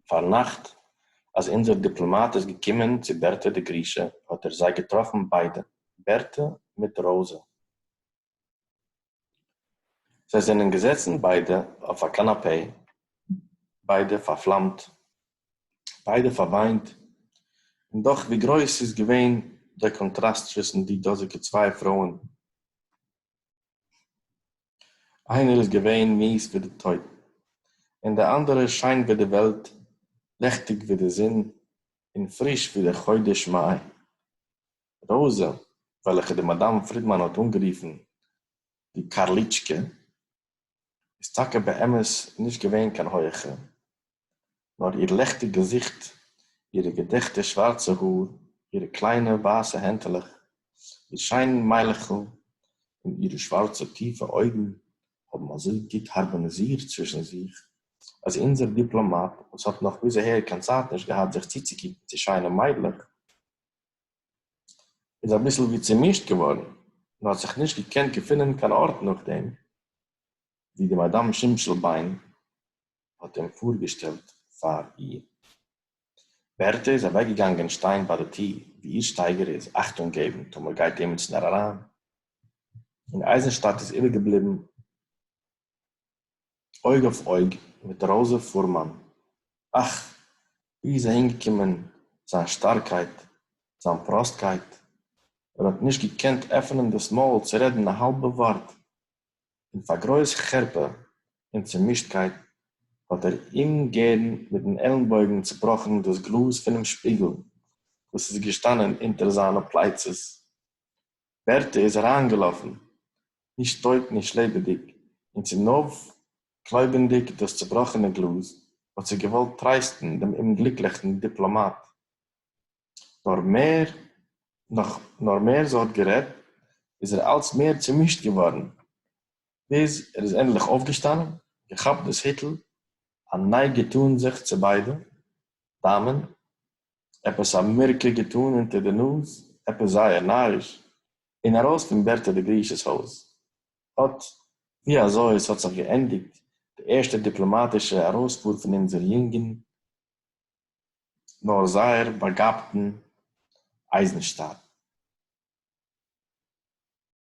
פארנאכט אז אונזער דיפלאמאט איז געקומען צו בערטע די גרושה האט ער זיי געטראפן ביידע, בערטע מיט ראוזע. זיי זענען געזעצן ביידע אויף א קאנאפעי, ביידע פארפלאמט, ביידע פארוויינט, און דאך ווי גרויס איז געווען דער קאנטראסט צווישן די דאזיגע צוויי פרויען. איינער איז געווען מיעס ווי די טויט, און דער אנדערער שיין ווי די וועלט, לעכטיג ווי די זון, און פריש ווי דער חודש מאי. ראזע, וועלכע די מאדאם פרידמאן האט אנגערופן די קארליטשקע, איז טאקע באמת נישט געווען קיין הויעכע, נאָר איר לעכטיק געזיכט, אירע געדעכטע שװאַרצע האָר, אירע קלײנע װײַסע הענטעלעך, איר שײן מײַלעכל און אירע שװאַרצע טיפֿע אױגן האָבן אַזױ גוט האַרמאָניזירט צװישן זיך, אַז אונדזער דיפּלאָמאַט, װאָס האָט נאָך ביז אַהער קײן צײַט נישט געהאַט זיך צוצוקוקן צו שײנע מײדלעך, איז אַ ביסל װי צעמישט געװאָרן און האָט זיך נישט געקענט געפֿינען קײן אָרט נאָך דעם, װי די מאַדאַם שמשׂל-בײן האט אים פארגעשטעלט פאר איר. בערטע איז אוועקגעגאנגען שטיין ביי די טיר, ווי איר שטייגער איז, אכטונג געבן טאמער גייט עימיצנער אריין, און אייזנשטאט איז איבערגעבליבן אויג אויף אויג מיט ראזע פורמאן, אך! ווי איז אהינגעקומען זיין שטארקייט, זיין פראסטקייט, ער האט נישט געקענט עפענען דאס מויל צו רעדן א האלבע ווארט, און פאר גרויס חרפה און צומישטקייט האט ער אומגערן מיטן עלנבויגן צובראכן דאס גלאז פונעם שפיגל וואס איז געשטאנען אונטער זיינע פלייצעס. בערטע איז אריינגעלאפן, נישט טויט נישט לעבעדיג, און צונויפקלויבענדיג דאס צובראכענע גלאז האט זי געוואלט טרייסטן דעם אומגליקליכן דיפלאמאט. נאָר מער נאָך, נאָר מער זי האָט גערעדט, איז ער אַלץ מער צעמישט געװאָרן, ביז ער איז ענדלעך אױפֿגעשטאַנען, געכאַפּט דאָס היטל, אַ נײג געטאָן זיך צו בײדע דאַמען, עפּעס אַ מירקע געטאָן אונטער דער נאָז, עפּעס זײער נאַריש, און אַרױס פֿון בערטע די גרישעס הױז. אָט װי אַזױ עס האָט זיך געענדיקט די ערשטע דיפּלאָמאַטישע אַרױספֿאָר פֿון אונדזער יונגן. נאָר זייער באַגאַבטן אײַזנשטאַט.